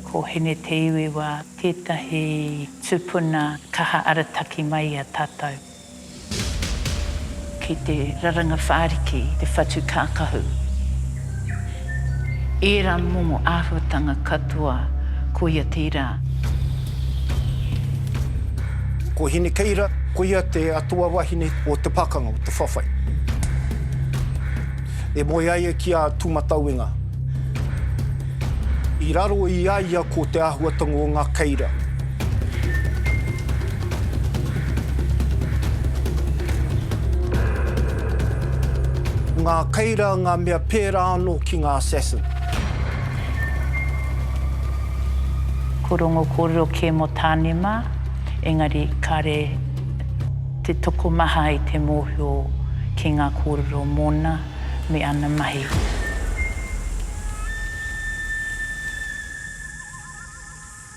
Ko Hine Te Iwiwa tētahi tupuna kaha arataki mai i a tātou ki te raranga whāriki, te whatu kākahu. Ērā momo āhuatanga katoa, koia tērā. Ko Hinekeira, koia te atua wahine o te pakanga, o te whawhai. E moe ai e ki a Tūmatauenga. I raro i a ia ko te āhuatanga o ngā keira. Ngā Keira ngā mea pērā anō ki ngā assassin. Ko Rongo kōrero kē mō Tāne mā, engari kāre te tokomaha i te mōhio ki ngā kōrero mōna me ana mahi.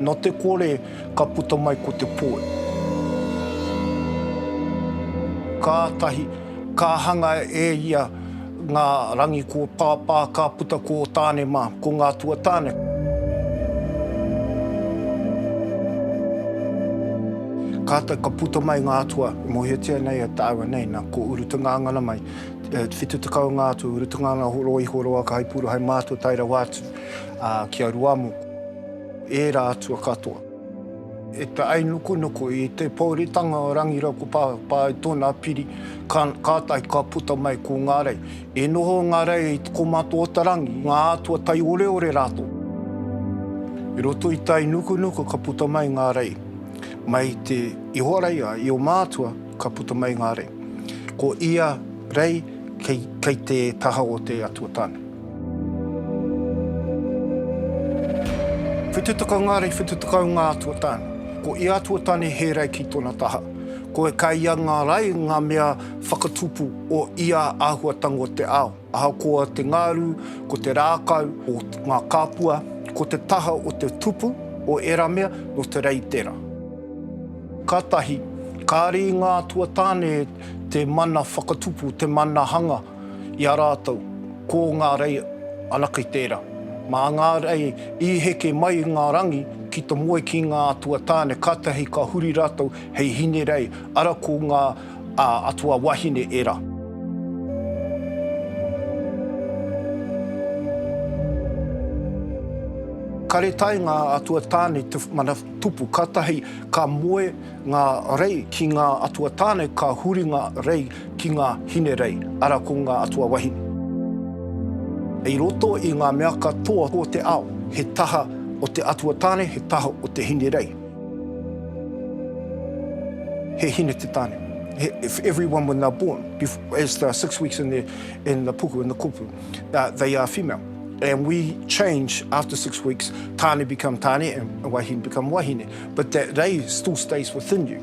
No te kore ka puta mai ko te poe. Kātahi ka hanga e ia ngā rangi ko Pāpā ka puta ko Tāne mā, ko ngā tuatāne. Kātahi ka puta mai ngā atua e mōhiotia nei e tāua nei, nā, ko Urutungāngana mai, e 70 ngā atua, Urutungāngana, Horoihoroa, Kahipuru, hai mātua tae rawa atu. ā, ki a Ruamoku. Ērā atua katoa. E te ainukunuku i te pōuritanga o Rangirauku Pāpā i tōna piri, ka, kātahi ka puta mai ko ngā rei. E noho ngā rei i te kōmata o te rangi, ngā atua taioreore rātou. I roto i te ainukunuku ka puta mai ngā rei. Mai te Ihoraia, i o mātua, ka puta mai ngā rei. Ko ia rei kei, kei te taha o te Atua Tāne. Whitu takangari, whitu takaunga atua tane. Ko ia atua tane he rei ki tona taha. Koe kai ia nga rei, nga mea whakatupu o ia ahuatanga o te ao. Ahakoa te ngaru, ko te rakau, o nga kapua, ko te taha o te tupu o era mea, no te rei tera. Katahi, kare i nga atua tane te mana whakatupu, te mana hanga. i a rātou, ko ngā rei ana kei tērā. Mā ngā rei i heke mai i ngā rangi ki te moe ki ngā atua tāne, kātahi ka huri rātou hei hine rei, ara ko ngā atua wahine ērā. Kare tae ngā atua tāne te mana tupu, kātahi ka moe ngā rei ki ngā atua tāne, ka huri ngā rei Ki ngā Hinerei, ara ko ngā atua wahine. I roto i ngā mea katoa o te ao, he taha o te atua tāne, he taha o te Hinerei. He hine te tāne. If everyone when they're born, as the six weeks in the puku, in the kupu, they are female. And we change after six weeks, tāne become tāne and wahine become wahine. But that rei still stays within you.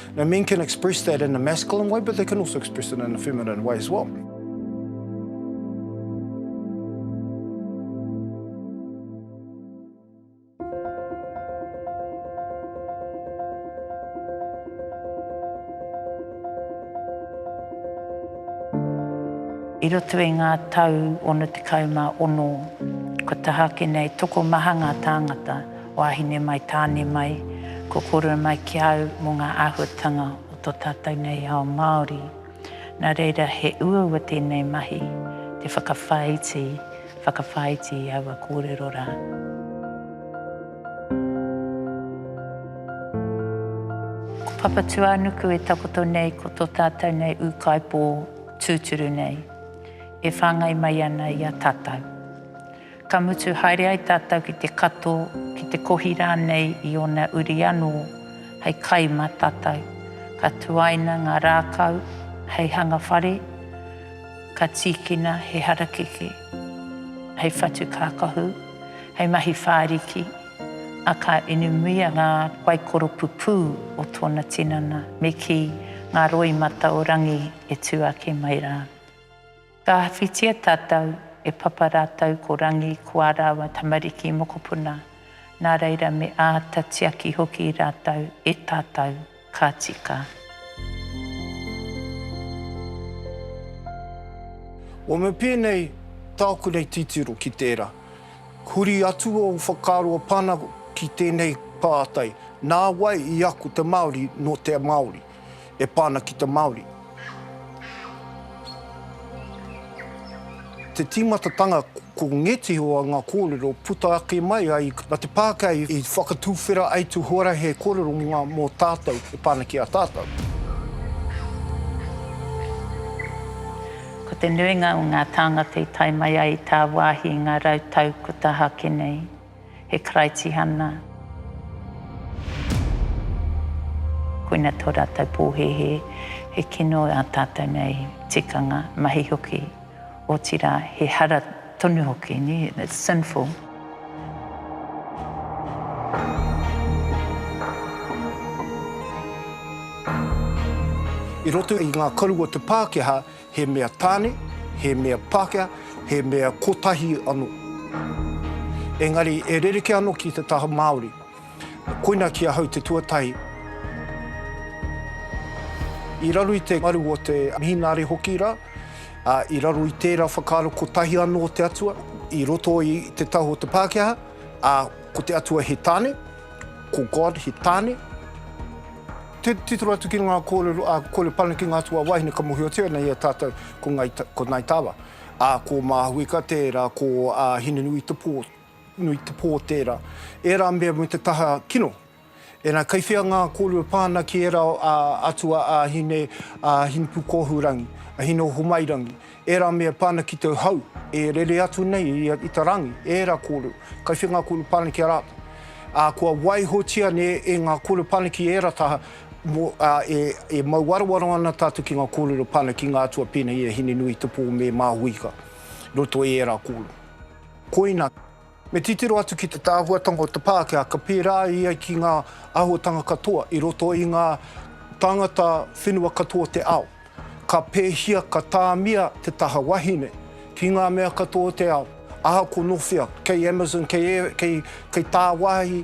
Now men can express that in a masculine way, but they can also express it in a feminine way as well. I roto i ngā tau 66, ko tahake nei tokomaha ngā tāngata, Wāhine mai, tāne mai, ko kōrua mai ki a au mō ngā āhuatanga o tō tātou nei ao Māori. Nā reira, he uaua tēnei mahi, te whakawhāiti, whakawhāiti i aua kōrero rā. Ko Papatūānuku e takoto nei ko tō tātou nei ūkaipō tūturu nei, e whāngai mai ana i a tātou. Ka mutu haere ai tātou ki te kato, ki te kohi rānei i ōna uri anō hei kai mā tātou. Ka tuaina ngā rākau hei hanga whare, ka tīkina he harakeke hei whatu kākahu, hei mahi whāriki, ā, ka inumuia ngā waikoro pupū o tōna tinana, me kī, ngā roi mata o Rangi e tū ake mai rā. Ka whiwhitia tātou, e Papa rātou ko Rangi ko ā rāua tamariki mokopuna, nā reira me āta tiaki hoki rātou e tātou, ka tika. Wama pēnei tāku nei titiro ki tērā. Huri atu ō whakaaro o Pana ki tēnei pātai, nā wai i ako te Māori nō te Māori? e pā ana ki te Māori. Te tīmatatanga ko ngētehi o ngā kōrero puta ake mai ai a te Pākehā i whakatuwhera ai te huarahi kōrero mō tātou e pā ana ki a tātou. Ko te nuinga o ngā tāngata i tae mai ai i tāwāhi i ngā rau tau kua tahake nei. He Karaitihana. Koina tō rātou pōhēhē, he kino ā tātou nei tikanga, mahi hoki, otirā, he hara tonu hoki, it's sinful. I roto i ngā karu o te Pākehā, He mea tāne, he mea Pākehā, he mea kotahi anō. Engari e rerekē anō ki te taha Māori. Koina ki ahau te tuatahi. I raro i te ngaru o te Mihinare hoki rā, ā, i raro i tērā whakaaro kotahi anō te Atua i roto i te taha o te Pākehā, ā, ko te Atua he tāne, ko God he tāne. Titiro atu ki ngā kōrero a Kore Panekinga atu a Wahine ka mōhiotia nei e tātou ko Ngai, ko Ngai Tava, ā, ko Māhuika tērā, ko ā Hinenuī te pō, nui te pō tērā. Ērā mea me te taha kino. Ēnā, kei whea ngā kōrero pā ana ki ērā ā atua ā Hine, ā Hinepūkōhurangi, a Hineohomairangi, Ērā mea pana ki tō hau, e rere atu nei i a Ita Rangi, ērā kōrero, kai whenga kōrero pana ki a rātou. Ā, kua waihotia nei e ngā kōrero pana ki ērā taha, mō, ā, e, e mau warowaro ana tātou ki ngā kōrero pana ki ngā atua pēnei i a Hinenuitepō me Māhuika, roto i ērā kōrero. Koina. Me titiro atu ki te tāhuatanga o te Pākehā, ka pērā ia ki ngā āhuatanga katoa i roto i ngā tāngata whenua katoa o te ao. Ka pēhia, ka tāmia te taha wahine ki ngā mea katoa o te ao, ahakoa nō whea, kei Amazon, kei, kei, kei tāwāhi,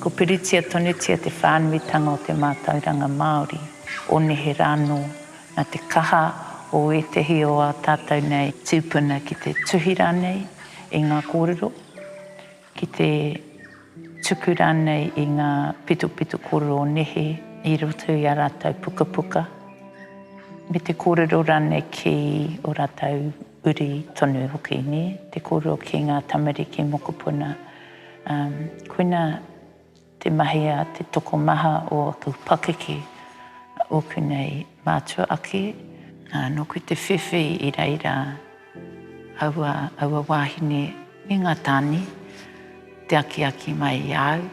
Ko Piritia Tonutia te whānuitanga o te mātauranga Māori, o nehe rānō, nā te kaha o ētehi o ā tātou nei tūpuna ki te tuhi rānei i ngā kōrero, ki te tuku rānei i ngā pitopito kōrero o nehe i roto i ā rātou pukapuka, me te kōrero rānei ki ō rātou uri tonu hoki, nē, te kōrero ki ngā tamariki mokopuna. Um, koina te mahi a te tokomaha o aku pakeke, ōku nei mātua ake, uh, nōku te whiwhi i reira aua, aua wāhine me ngā tāne, te akiaki mai i au.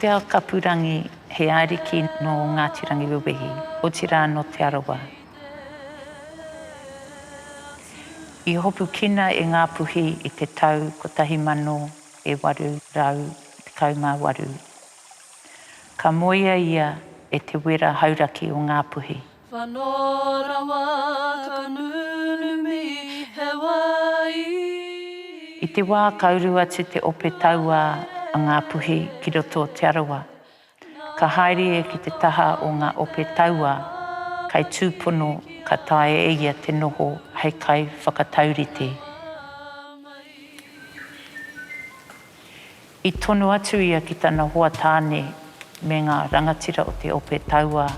Te Aokapurangi, he ariki nō Ngāti Rangiwewehi, otirā nō Te Arawa. I hopukina e Ngāpuhi i te tau 1818. Ka moea ia e te wera hauraki o Ngāpuhi. Whano rawa ka nunumi he wai. I te wā ka uru atu te ope tauā a Ngāpuhi ki roto o Te Arawa, ka haere ia ki te taha o ngā ope tauā kai tūpono ka taea e ia te noho hei kaiwhakataurite. I tonu atu ia ki tana hoa tāne me ngā rangatira o te ope tauā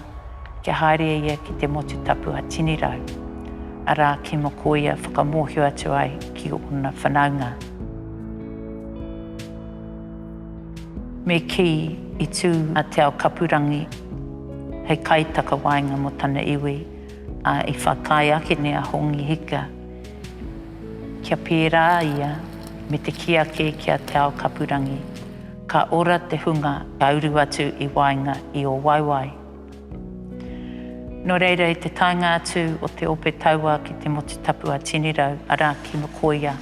kia haere ia ki te motu tapu a Tinirau, arā, ki Mokoia whakamōhio atu ai ki ōna whanaunga. Me kī, i tū a Te Aokapurangi hei kaitakawaenga mō tana iwi, ā, i whakaae akene a Hongi Hika. Kia pērā ia me te kī ake ki a Te Ao-kapurangi, ka ora te hunga ka uru atu i waenga i ō waewae. Nō reira i te taenga atu o te ope taua ki te motu tapu a Tinirau, arā, ki Mokoia,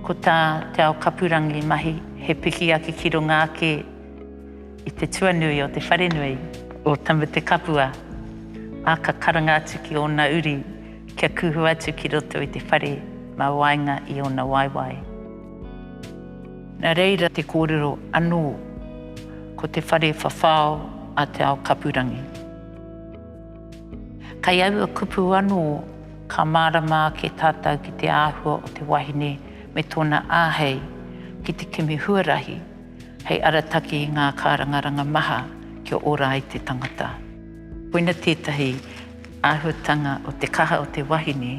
ko tā Te Ao-kapurangi mahi he piki ake ki runga ake i te tuanui o te wharenui, o Tamutekapua, ā, ka karanga atu ki ōna uri, Kia kuhu atu ki roto i te whare mā waenga i ōna waewae. Nā reira te kōrero anō, ko te whare whawhao a Te Aokapurangi. Kei aua kupu anō ka mārama ake tātou ki te āhua o te wahine me tōna āhei ki te kimi huarahi hei arataki i ngā kārangaranga maha kia ora ai te tangata. Koina tētahi Āhuatanga o te kaha o te wahine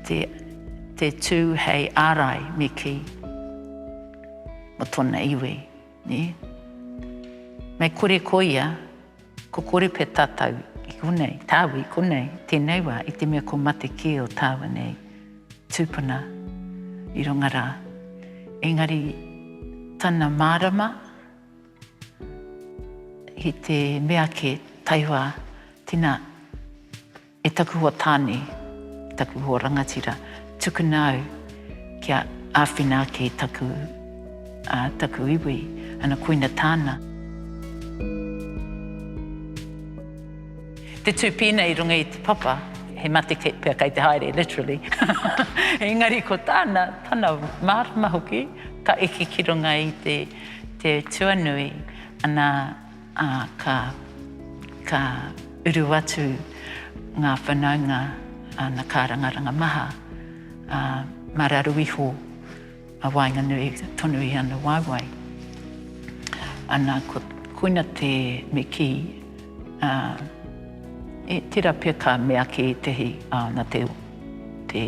te te tū hei ārai me kī mō tōna iwi, nē? Mei kore ko ia, ko kore pea tātou i konei, tāu i konei, tēnei wā, i te mea kua mate kē o tāua nei tūpuna i runga rā. Engari tana mārama, He te mea ke taiwa tina e taku hoa tane, taku hoa rangatira, tukuna au kia awhina ake i taku, a, taku iwi, ana koina tana. Te tupina i runga i te papa, he mate kei pea kei te haere, literally. Engari ko tana, tana marama hoki, ka eke ki runga i te Te tuanui, ana, ā, ka, ka uru atu ngā whanaunga, ā, na kārangaranga maha, ā, mā raru iho a waenganui tonu i ana waewae. Ana, ko, koina te, me kī, ā, e, tērā pea ka mea ki ētehi, ā, na te, te.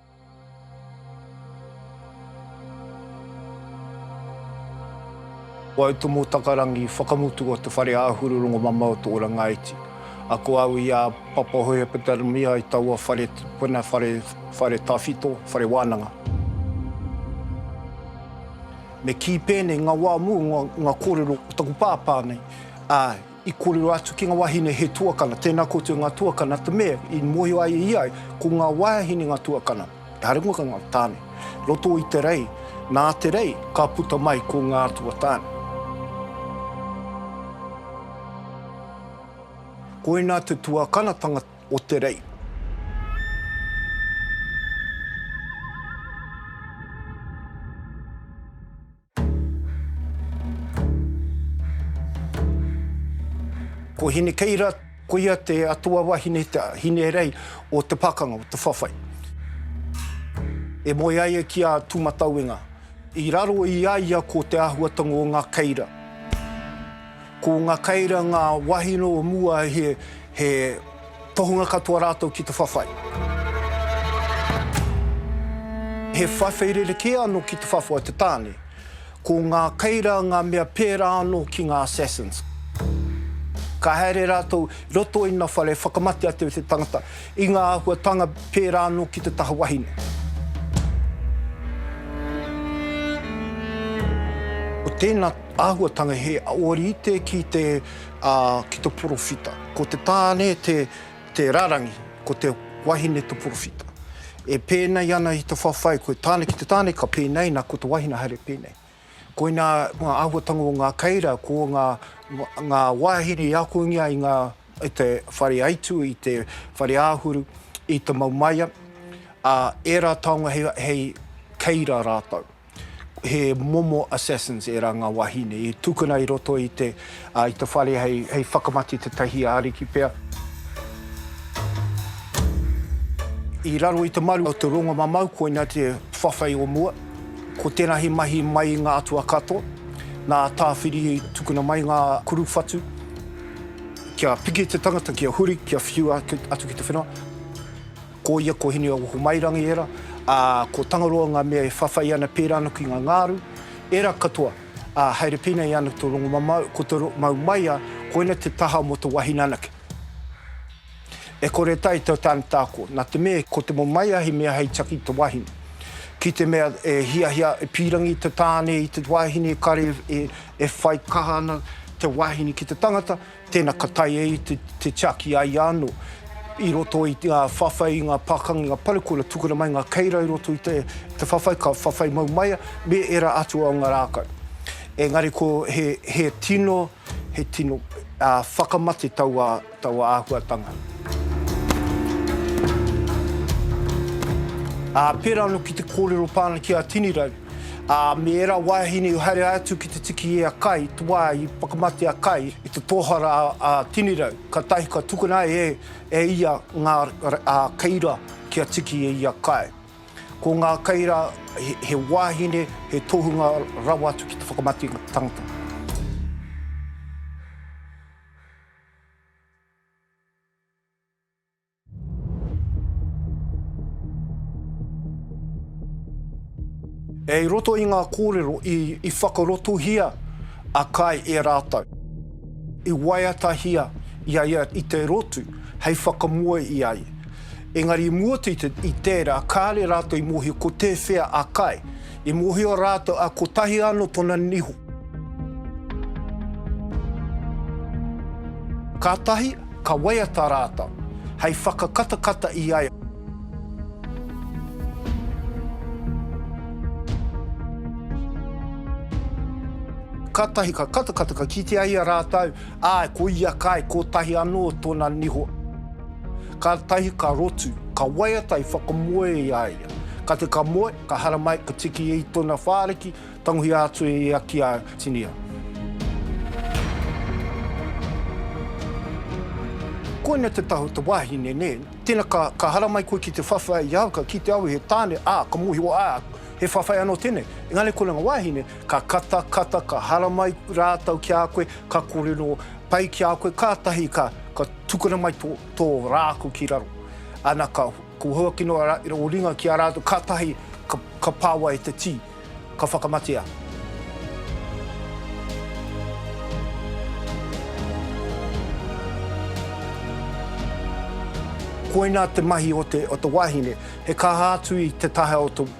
Ko au Tomo Takarangi, whakamutu o te whare āhuru rongomama o Te Ora Ngāiti. Ako au i a Papa Hohepatermia i taua whare tipuna, whare, whare tawhito, whare wānanga. Me kī pēnei, ngā wā mō ngā kōrero o taku pāpā nei, āe. I kōrero atu ki ngā wāhine he tuakana, tēnā koutou ngā tuakana, te mea i mōhio ai e ia, ko ngā wāhine ngā tuakana, kāre ngō ngā tāne. Roto i te rei, nā te rei, ka puta mai ko ngā atua tāne. Koinā te tuakanatanga o te rei. Ko Hinekeira, koia te atua wahine, te hinerei o te pakanga, o te whawhai. E moe ai ia ki a Tūmatauenga. I raro i a ia ko te āhuatanga o ngā keira. Ko nga Keira nga wahine o mua he tohunga katoa ratou ki te whawhai. He whawhai rerekē ano ki te whawhai o te tane. Ko nga Keira nga mea pērā ano ki nga Assassins. Ka haere ratou i roto i na whare whakamate a te tangata i nga ahuatanga pērā ano ki te taha wahine. Ko tena Āhuatanga he ōrite ki te, ā, ki te porowhita. Ko te tāne te, te rarangi, ko te wahine te porowhita. E pēnei ana i te whawhai, ko te tāne, ki te tāne ka pēnei, nā, ko te wahine haere pēnei. Koinā ngā āhuatanga o ngā keira, ko ngā, ngā wāhine i akongia i ngā, i te whare aitu, i te whare āhuru, i te maumaia, ā, ērā taonga hei, hei keira rātou. He momo assassins ērā ngā wāhine i tukuna i roto i te, ā, i te whare hei, hei whakamate tētahi ariki pea. I raro i te maru o te rongomamau koina te whawhai o mua. Ko tēnā he mahi mai i ngā atua katoa. Nā Tāwhiri i tukuna mai ngā kuru whatu kia piki te tangata, kia huri, kia whiua atu ki te whenua. Ko ia, ko Hineaohomairangi ērā, ā, ko Tangaroa ngā mea e whawhai ana pērā ana ki ngā ngāru, ērā katoa, ā, haere pēnei ana ki te rongomamao, ko te mau maia, koina te taha mō te wahine anake. E kore e taea te tānata ako, nā te mea ko te momaia he mea hei taki i te wahine. Ki te mea e hiahia, e pīrangi te tāne i te wahine, kare e whai kaha ana te wahine ki te tangata, Tēnā ka tae i te tiaki a ia anō i roto i ngā whawhai, i ngā pākanga, i ngā parekura tukuna mai ngā keira i roto i te whawhai, ka whawhai mau mai ia me ērā atu o ngā rākau. Engari ko he tino, he tino whakamate taua āhuatanga. Ā, pērā anō ki te kōrero pā ana ki a Tinirau, Ā, me ērā wāhine i haere atu ki te tiki i a Kai, te wā i whakamate a Kai i te tōhara a Tinirau, kātahi ka tukuna e ia ngā kei rā kia tiki i a Kai. Ko ngā kei rā he wāhine, he tohunga rawa atu ki te whakamate i ngā tangata. E i roto i ngā kōrero i whakarotohia a Kae e rātou, i waiatahia i a ia i te rotu hei whakamoe i a ia. Engari i mua atu i tērā, kāore rātou i mōhio ko tēwhea a Kae I mohio ratou a kotahi ano tona niho. Katahi ka waiata ratou hei whakakatakata i a. Katahi ka katakata ka kitea i a ratou, ae ko ia kai kotahi ano tona niho. Katahi ka rotu, ka waiata i whakamoe i a ia. Kate ka moe, Ka haramai, ka tiki i tona whariki, tangohia atu e ia ki a Tinia. Koina te taha o te wahine nena. Tena ka, ka haramai koe ki te whawhai i au, ka kite au i he tane, a, ka mohio, a, he whawhai ano tenei. Engari kona nga wahine, ka kata, kata, ka haramai ratou ki a koe, ka korero pai ki a koe, katahi ka, ka tukuna mai to, to raku ki raro. Ana ka. Ko Huaki noa ra, i ringa ki a ratou, katahi ka, ka pawa e te ti, ka whakamatea. Koina te mahi o te, o te wahine, he kaha atu i te taha o te.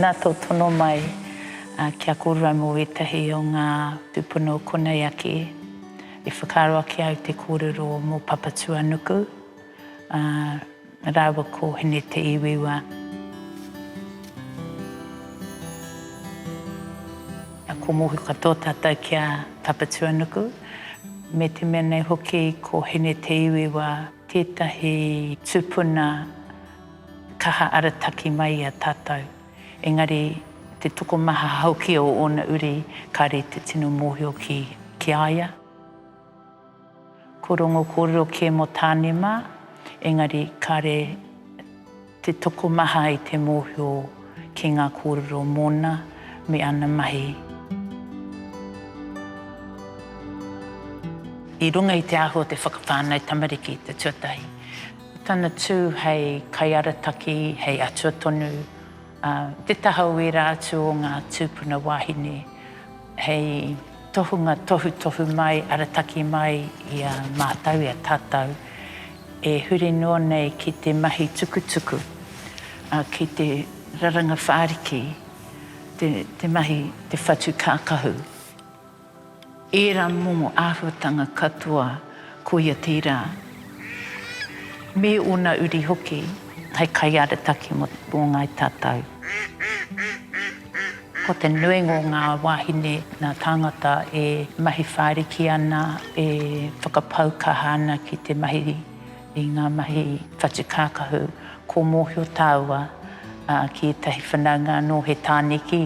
Nā tō tono mai ki a kōrua mō wētahi o ngā tūpuna o konei ake, i whakaaro ake au te kōrero mō Papatuanuku rāua ko Hine Te Iwiwa. Ko Mohi katoa tātou ki a Papatuanuku, me te mea nei hoki ko Hine Te Iwiwa. Tētahi tūpuna kaha arataki mai i a tātou, engari te tokomaha hoki o ōna uri kāre te tino mōhio ki ki a ia. Ko Rongokōrero kē mō Tāne mā, engari kāre. Te tokomaha i te mōhio ki ngā kōrero mōna me ana mahi. I runga i te ahu o te whakawhānau tamariki i te tuatahi, ko tana tū hei kaiarataki, hei atua tonu, ā, i te taha o ērā atu o ngā tūpuna wāhine, hei. Tohunga tohutohu mai, arataki mai i a mātou, i a tātou e huri noa nei ki te mahi tukutuku, ki te raranga whāriki, te mahi, te whatu kākahu. Ērā momo āhuatanga katoa. Koia tērā. Me ōna uri hoki hei kaiarataki mō Ngāi Tātau. Ko te nuinga o ngā wāhine, ngā tāngata e mahi whāriki ana, e whakapau kaha ana ki te mahi i ngā mahi whatu kākahu, kua mōhio tāua ki ētahi whanaunga anō he tāniki.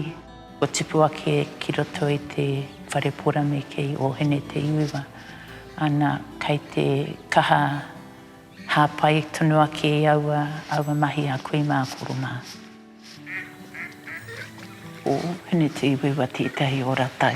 Kua tipu ake ki roto i te whare porame kei Ohene Te Iuiwa, ana, kei te kaha hāpai tonu ake i aua, aua mahi a kui mā, koro mā. Ko Ohene Te Iuiwa tētahi ora tau.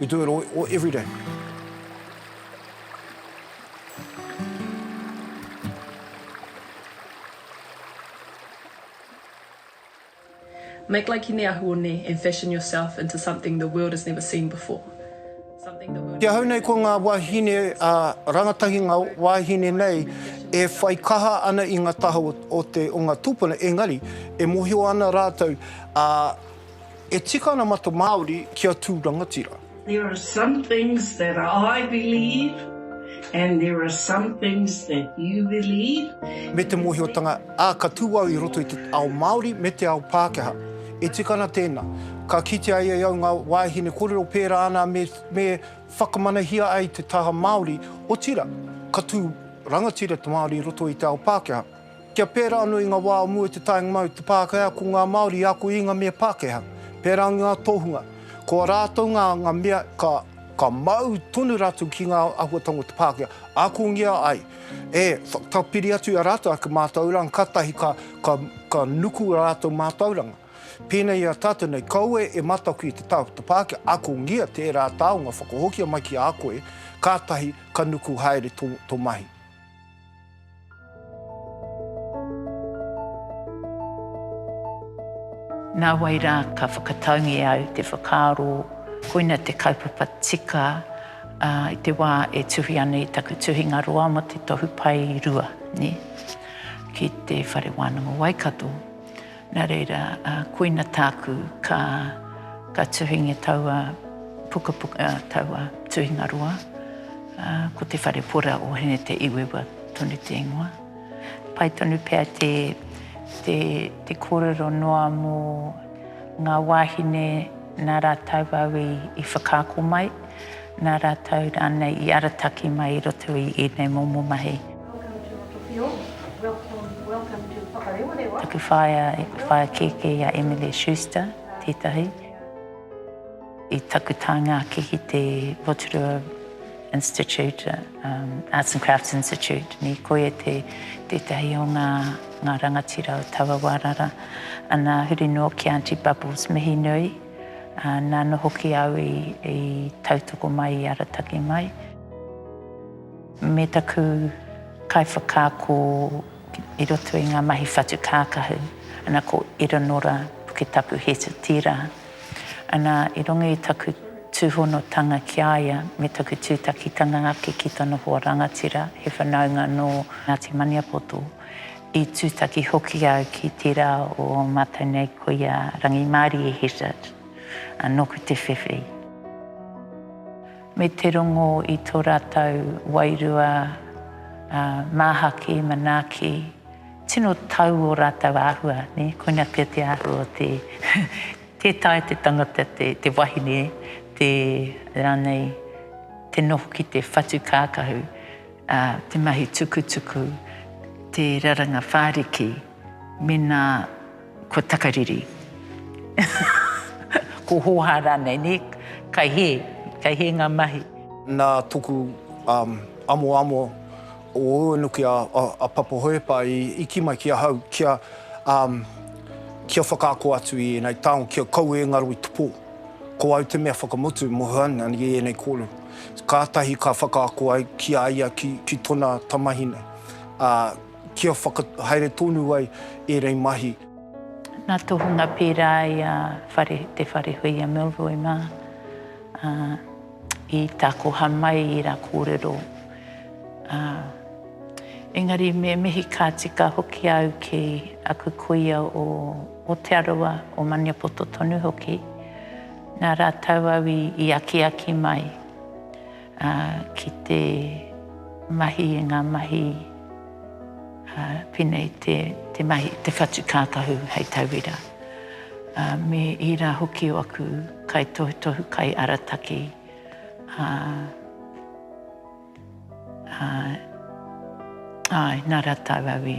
We do it all, all every day. Make like Hine Ahuone and fashion yourself into something the world has never seen before. Ki ahau nei ko ngā wāhine a rangatahi ngā wāhine nei e whai kaha ana i ngā taha o, o, te, o ngā tūpuna, engari e mohio ana rātou a E tika ana mata Māori ki a tū rangatira. There are some things that I believe and there are some things that you believe. Me te mōhiotanga, ā, ka tū au i roto i te ao Māori me te ao Pākehā. E tika ana tēnā. Ka kitea e au ngā wāhine kōrero pērā ana me, me whakamanahia ai te taha Māori, otirā, ka tū rangatira te Māori i roto i te ao Pākehā. Kia pērā anō i ngā wā o mua i te taenga mai o te Pākehā ko ngā Māori i ako i ngā mea Pākehā, pērā i ngā tohunga. Ko a rātou ngā ngā mea ka ka mau tonu rātou ki ngā āhuatanga o te Pākehā, akongia ai, e, whakatapiri atu i a rātou ake mātauranga, kātahi ka ka ka nuku ā rātou mātauranga. Pēnei i a tātou nei, kaua e mataku i te tākuta Pākehā, akongia tērā taonga whakahokia mai ki a koe, kātahi ka nuku haere tō tō mahi. Nā wai rā ka whakataungia au te whakaaro koina te kaupapa tika i te wā e tuhi ana i taku tuhinga roa mō te Tohu Pae Rua ki te Whare Wānanga Waikato. Nā reira, koina tāku ka ka tuhingia taua pukapuka, taua tuhingaroa, ko Te Whare Pora o Hine Te Iwewa tonu te ingoa. Pai tonu pea te, te, te kōrero noa mō ngā wāhine nā rātou au i, i whakaako mai, nā rātou rānei i arataki mai i roto i ēnei momo mahi. Welcome to Rotowhio, welcome, welcome to Whakarewarewa. Aku whaea i whaea kēkē i a Emily Schuster, tētahi. I taku tānga ake ki te Rotorua Institute, um, Arts and Crafts Institute, ni koe e te tētahi o ngā, ngā rangatira o taua wārara. Ana huri noa ki Auntie Bubbles, mihi nui. Uh, nāna hoki au i, i tautoko mai, i arataki mai. Me taku kaiwhakaako i roto i ngā mahi whatu kākahu, ana, ko Iranora Puketapu Heta tērā. Ana, i runga i taku tūhonotanga ki a ia me taku tūtakitanga ake ki tana hoa rangatira, he whanaunga nō Ngāti Maniapoto, i tūtaki hoki au ki tērā o mātou nei ko ia Rangimārie Heta, nōku te whewhi. Me te rongo i tō rātou wairua, ā, māhaki, manaaki, tino tau ō rātou āhua, nē, koina pea te āhua o te, tē taea te tangata, te, te wahine, te, rānei, te noho ki te whatu kākahu, ā, te mahi tukutuku, te raranga whāriki. Mēnā kua takariri, kua hōhā rānei, nē? Kai hē, kai hē ngā mahi. Nā toku amoamo o Uenuki a Papa Hohepa i kī mai ki ahau kia kia whakaako atu i ēnei taonga, kia kau e ngaro i te pō. Ko au te mea whakamutu, Mohoana, i ēnei kōrero. Kātahi ka whakaako ai ki a ia, ki tona tamahine. Kia whakahaere tonu ai ērei mahi. Nā tohunga pērā i a whare, te whare hui a Milroy mā, ā, i takoha mai i rā kōrero, ā, engari me mihi ka tika hoki au ki aku kuia o Otearoa, o Maniapoto tonu hoki, nā rātau au i, i akiaki mai. Ā, ki te mahi i ngā mahi, ā, pēnei te, te mahi, te whatu kākahu hei tauira, ā, me ērā hoki o aku kaitohutohu kai arataki, ā, ā, āe, nā rātou au i.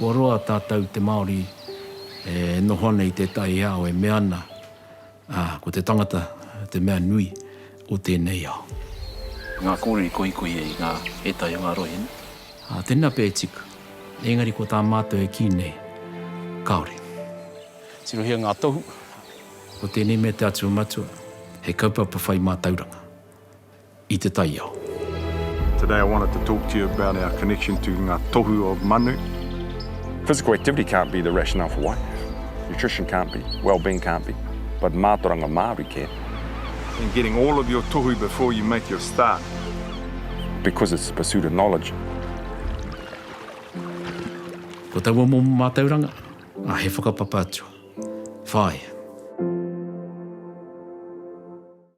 Kua roa tātou te Māori e noho ana i tētahi ao e mea ana, ā, ko te tangata te mea nui. o tēnei ao. Ngā kōrero i koikoi ai ngā ētahi o ngā rohenga. Ā, tēnā pea e tipu. Engari ko tā mātou e kī nei, kāore. Tirohia ngā tohu. Ko tēnei mea te Atua Matua. He kaupapa whai mātauranga i te taiao. Today I wanted to talk to you about our connection to ngā tohu of manu. Physical activity can't be the rationale for why. Nutrition can't be. Well-being can't be. But mātoranga Māori can. in getting all of your tohu before you make your start. Because it's the pursuit of knowledge. Ko taua momo mātauranga, a He Whakapapa Atua. Whāia.